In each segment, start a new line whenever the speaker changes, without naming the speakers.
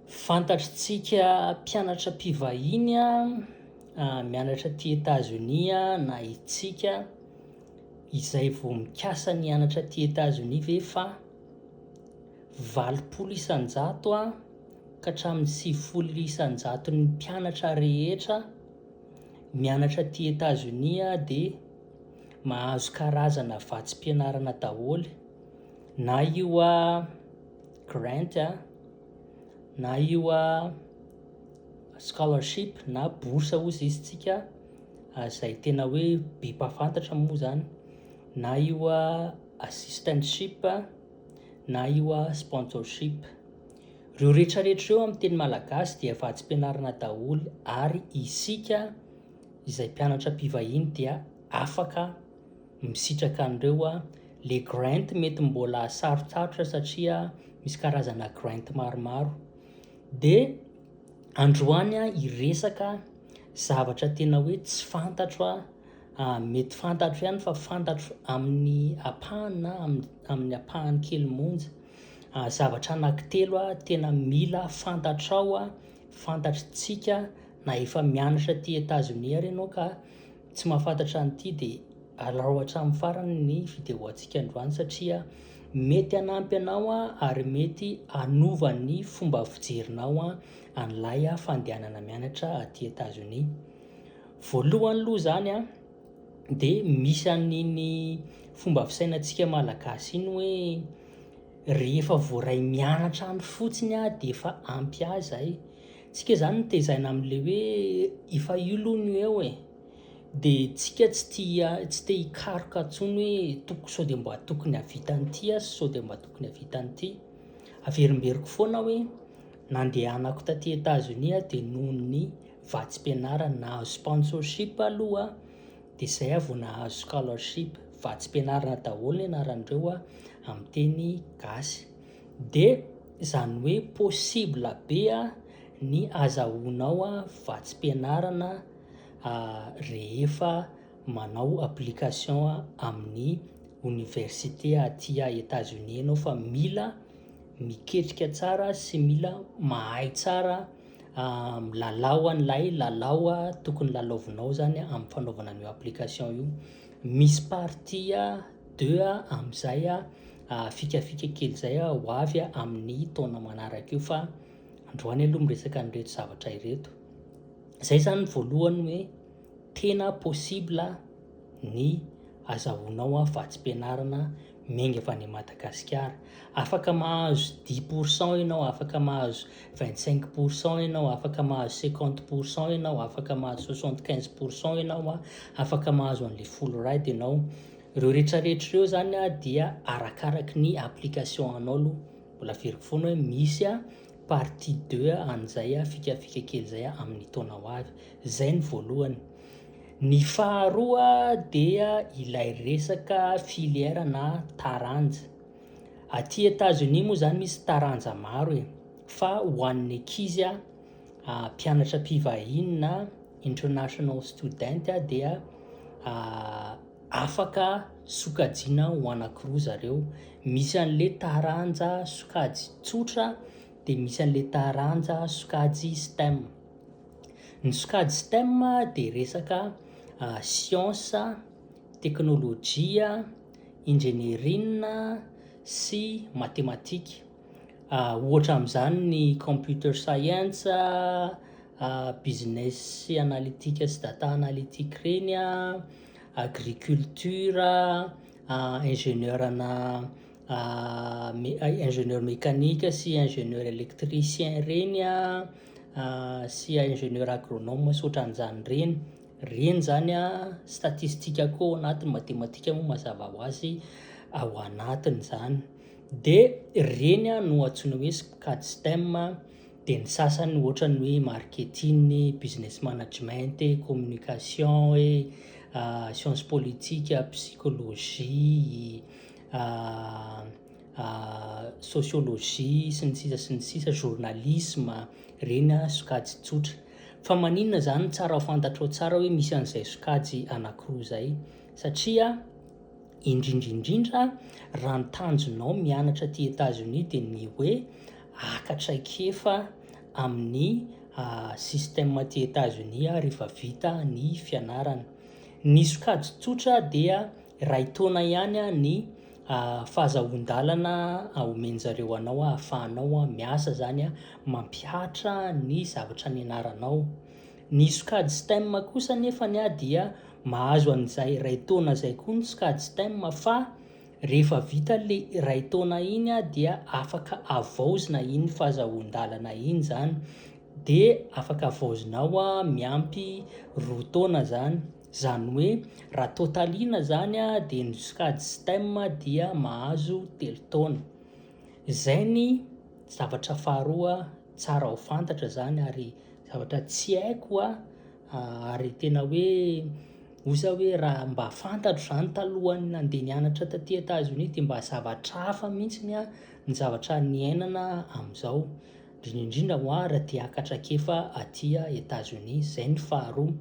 Fantatr'tsika mpianatra mpivahiny mianatra aty Etazonia na itsika izay vao mikasa ny hianatra aty Etazonia ve fa valopolo isan-jato ka hatramin'ny sivifolo isan-jaton'ny mpianatra rehetra mianatra aty Etazonia dia mahazo karazana vatsim-pianarana daholo na io grant a, na io scholarship na bourse hoy izy isika izay tena hoe be mpahafantatra moa izany, na io assistantship na io sponsorship. Ireo rehetrarehetra ireo amin'ny teny malagasy dia efa hatsi-pianarana daholo ary isika izay mpianatra mpivahiny dia afaka. Misitraka anreo a! Le grant mety mbola sarotsarotra satria misy karazana grant maromaro. De androany a hiresaka zavatra tena hoe tsy fantatro a! mety fantatro ihany fa fantatro amin'ny ampahany na amin'ny ampahany kely monja. Zavatra anankitelo a tena mila fantatrao a, fantatr'tsika na efa mianatra aty Etazonia ary ianao ka Tsy mahafantatra an'ity dia alao hatramin'ny farany ny vidéo antsika androany satria mety hanampy anao ary mety hanova ny fomba fijerinao an'ilay fandehanana mianatra aty Etazonia. Voalohany aloha izany a, dia misy an'iny fomba fisainantsika malagasy iny hoe rehefa voaray mianatra any fotsiny aho dia efa ampy ahy izay. Tsika zany no tezaina amin'le hoe efa io loha no eo e! de tsika tsy tia tsy te hikaroka tsony hoe toko sao de mba tokony havita an'ity aho sao de mba tokony havita an'ity! averimberiko foana hoe nandehanako taty Etazonia aho de nohon'ny vatsim-pianarana nahazo sponsorship aloha de zay aho vao nahazo scholarship, vatsim-pianarana daholo ny anaran'ireo amin'ny teny gasy. Dia izany hoe possible be ny azahoanao vatsim-pianarana rehefa manao application amin'ny oniversite aty Etazonia ianao fa mila miketrika tsara sy mila mahay tsara milalao an'ilay lalao tokony lalaovinao zany amin'ny fanaovana an'io application io. Misy partie. Deux a amin'izay a fikafika kely izay a ho avy amin'ny taona manaraka io fa androany aloha miresaka an'ireto zavatra ireto. Izay izany voalohany hoe tena possible ny azahoanao vatsim-pianarana miainga avy any Madagasikara. Afaka mahazo dix pour cent ianao, afaka mahazo vingt cinq pour cent ianao, afaka mahazo cinquante pour cent ianao, afaka mahazo soixante quinze pour cent ianao a, afaka mahazo an'le folo rad ianao, reo rehetra rehetra reo zany a dia arakaraky ny application anao aloha, mbola averiko foana hoe misy a partie deux an'izay a fikafika kely zay a amin'ny taona ho avy. Izay ny voalohany. Ny faharoa dia ilay resaka filière na taranja. Aty Etazonia moa izany misy taranja maro e, fa ho an'ny ankizy mpianatra mpivahiny na international student dia afaka sokajiana ho anankiroa zareo, misy an'ilay taranja sokajy tsotra dia misy an'ilay taranja sokajy STEM. Ny sokajy stem dia resaka siansa, teknolojia, injenieriana sy matematika. Ohatra amin'izany ny computer science, business analytique sy data analytique ireny, agriculture, ingénieur ana ingénieur mécanique sy ingénieur électricien ireny. sy ingénieur agronome sy ohatran'izany ireny, ireny zany statistique koa ao anatin'ny matematika moa mazava ho azy ao anatiny zany, de ireny no antsoina hoe cad stem an, de ny sasany ohatra ny hoe marketing, business management, communication e, science politique, psychologie, sociologie sy ny sisa sy ny sisa, journalisme, ireny sokajy tsotra. Fa maninona izany tsara fantatrao tsara hoe misy an'izay sokajy anankiroa izay? Satria indrindra indrindra raha ny tanjonao mianatra aty États-Unis dia ny hoe haka traikefa amin'ny ah, système aty États-Unis rehefa vita ny fianarana. Ny sokajy tsotra dia Iray taona ihany ny fahazahoan-dalana omen'zareo anao ahafahanao miasa zany mampihatra ny zavatra nianaranao. Ny sokajy stem kosa anefa dia mahazo an'izay iray taona izay koa ny sokajy stem fa rehefa vita le iray taona iny dia afaka avaozina iny fahazahoan-dalana iny zany de afaka avaozinao miampy roa taona zany. Izany hoe raha totalina izany dia ny sokajy STEM dia mahazo telo taona. Izay ny zavatra faharoa tsara ho fantatra izany ary zavatra tsy haiko ary tena hoe hoy za hoe raha mba fantatro izany talohan'ny nandeha nianatra taty Etazonia dia mba zavatra hafa mihitsy ny zavatra niainana amin'izao, indrindra indrindra ho'a raha te-hiakatra ankefa aty Etazonia. Izay ny faharoa.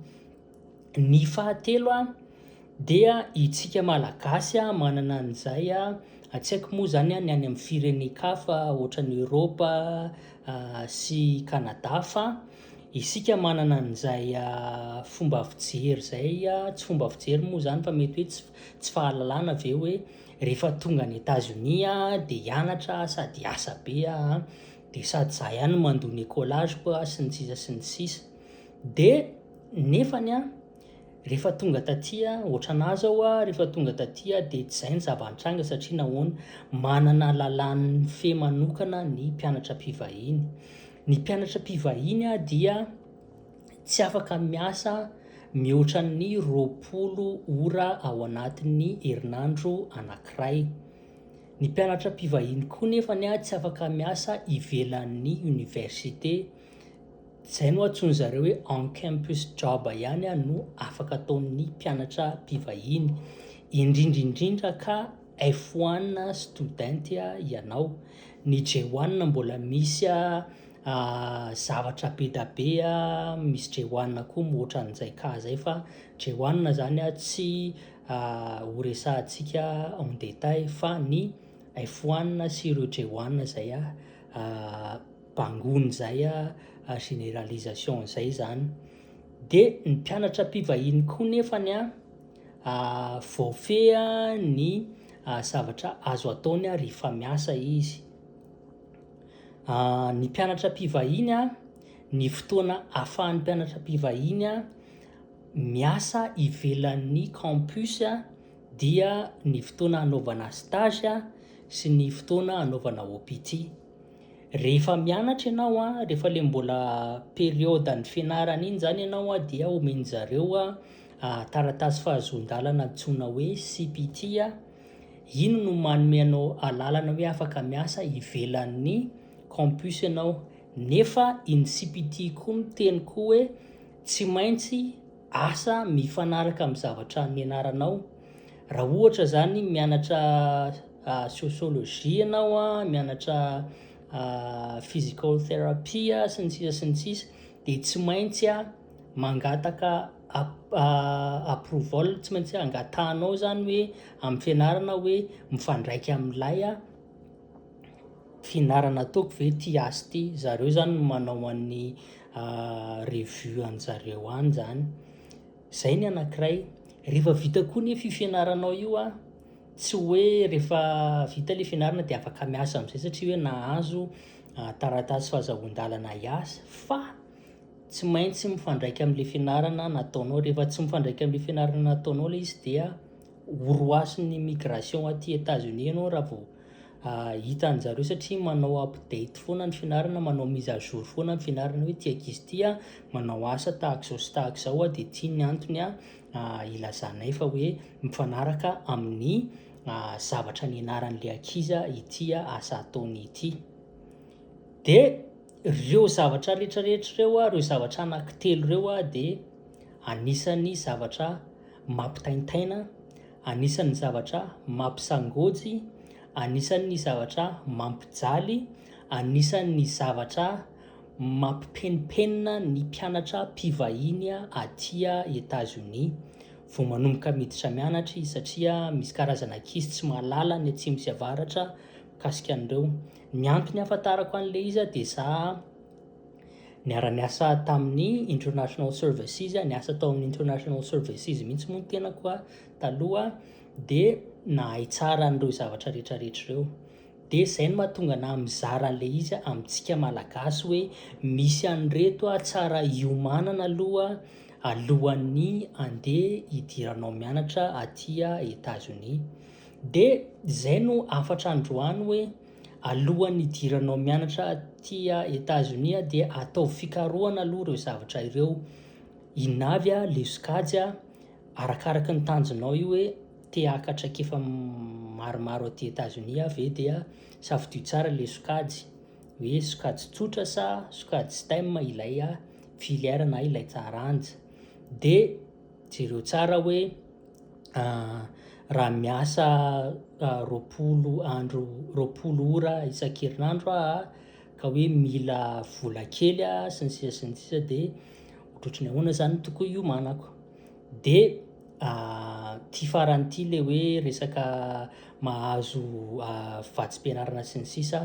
Ny fahatelo dia isika Malagasy manana an'izay, tsy haiko moa izany ny any amin'ny firenen-kafa ohatran'i Eoropa sy i Kanada fa isika manana an'izay fomba fijery izay, tsy fomba fijery moa izany fa mety hoe tsy tsy fahalalana ve hoe rehefa tonga any Etazonia dia hianatra sady hiasa be aho, dia sady izaho ihany no mandoa ny écolage-ko sy ny sisa sy ny sisa, dia. Nefany an, rehefa tonga taty an, ohatranà zao an, rehefa tonga taty an dia tsy zay ny zava-nitranga satria nahoana, manana lalàn'ny fe manokana ny mpianatra mpivahiny. Ny mpianatra mpivahiny an dia tsy afaka miasa mihoatra ny roapolo ora ao anatin'ny herinandro anankiray. Ny mpianatra mpivahiny koa nefany an tsy afaka miasa ivelan'ny oniversite. Izay no antsoin-dry zareo hoe on campus job ihany no afaka ataon'ny mpianatra mpivahiny, indrindra indrindra ka F one student ianao. Ny J one mbola misy zavatra be dia be, misy J one koa mihoatra an'izay ka izay fa J one izany tsy ho resahantsika en détail fa ny F one sy ireo J one izay. bangoina izay a, généralisation izay zany, dia ny mpianatra mpivahiny koa nefany a voafeha ny zavatra azo ataony a rehefa miasa izy, ny mpianatra mpivahiny a, ny fotoana afahan'ny mpianatra mpivahiny a miasa ivelan'ny campus a dia ny fotoana hanaovana stage sy ny fotoana hanaovana OPT. Rehefa mianatra ianao, rehefa ilay mbola periôdan'ny fianarana iny zany ianao dia omen'zareo taratasy fahazoan-dalana antsoina hoe CPT, iny no manome anao alalana hoe afaka miasa ivelan'ny campus ianao, nefa iny CPT iny koa miteny koa hoe tsy maintsy. asa mifanaraka amin'ny zavatra nianaranao. Raha ohatra zany mianatra ah, sociologie ianao a, mianatra ah, physical therapy a, sy ny sisa sy ny sisa, dia tsy maintsy a mangataka ap- ah, approval, tsy maintsy angatahanao zany hoe amin'ny fianarana hoe mifandraika amin'ilay a, fihinarana ataoko ve tia azy ity, zareo zany no manao an'ny revue anjareo any zany, zay ny anakiray, rehefa vita koa nefa io fianaranao io an, tsy hoe rehefa vita le fianarana de afaka miasa amizay satria hoe nahazo taratasy fahazoan-dalana hiasa fa tsy maintsy mifandraika amle fianarana nataonao, rehefa tsy mifandraika amle fianarana nataonao le izy dia. horohasin'ny migration aty Etats-Unis ianao raha vao hita an'i zareo satria manao update foana ny fianarana, manao mise à jour foana ny fianarana hoe ity ankizy ity a, manao asa tahaka izao sy tahaka izao a, dia ity ny antony a, ilazanay fa hoe mifanaraka amin'ny zavatra nianaran'ilay ankizy ity asa ataony ity. Dia. Ireo zavatra rehetra rehetra ireo, ireo zavatra anankitelo ireo dia anisan'ny zavatra mampitaintaina, anisan'ny zavatra mampisangoajy, anisan'ny zavatra mampijaly, anisan'ny zavatra mampipenimpenina ny mpianatra mpivahiny aty Etazonia vao manomboka miditra mianatra izy satria misy karazana ankizy tsy mahalala ny atsimo sy avaratra mikasika an'ireo. Ny antony ahafantarako an'i Leiza dia za niara-niasa tamin'ny International Services, niasa tao amin'ny International Services mihitsy moa ny tenako taloha dia nahay tsara an'ireo zavatra rehetrarehetra ireo. Dia izay no mahatonga anà mizara an'i Leiza amintsika Malagasy hoe misy an'ireto tsara iomanana aloha alohan'ny andeha hidiranao mianatra aty Etazonia. Dia izay no hafatra androany hoe alohan'ny hidiranao mianatra aty Etazonia dia ataovy fikarohana aloha ireo zavatra ireo, inona avy ilay sokajy, arakaraky ny tanjonao io hoe te haka traikefa maromaro aty Etazonia ve dia safidio tsara ilay sokajy, hoe sokajy tsotra sa sokajy stem ilay filière na ilay taranja. Jereo tsara hoe raha miasa roapolo andro roapolo ora isan-kerinandro aho ka hoe mila vola kely aho sy ny sisa sy ny sisa dia ohatrohatry ny ahoana izany no tokony hiomanako? Dia ity farany ity ilay hoe resaka mahazo vatsim-pianarana sy ny sisa,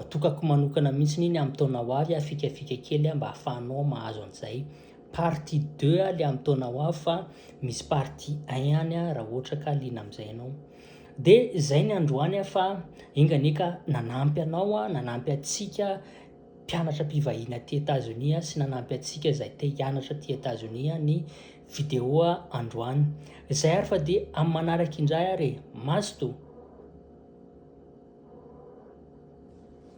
atokako manokana mihitsy iny amin'ny taona ho avy fikafika kely mba ahafahanao mahazo an'izay. Partie deux a le am taona ho avy fa misy partie un ihany a raha ohatra ka liana amin'izay ianao. De zay ny androany a fa enga anie ka nanampy anao a, nanampy antsika mpianatra mpivahiny aty Etazonia sy nanampy antsika izay te hianatra aty Etazonia ny vidéo a androany. Zay ary fa de am manaraka indray ary e. Mazotoa.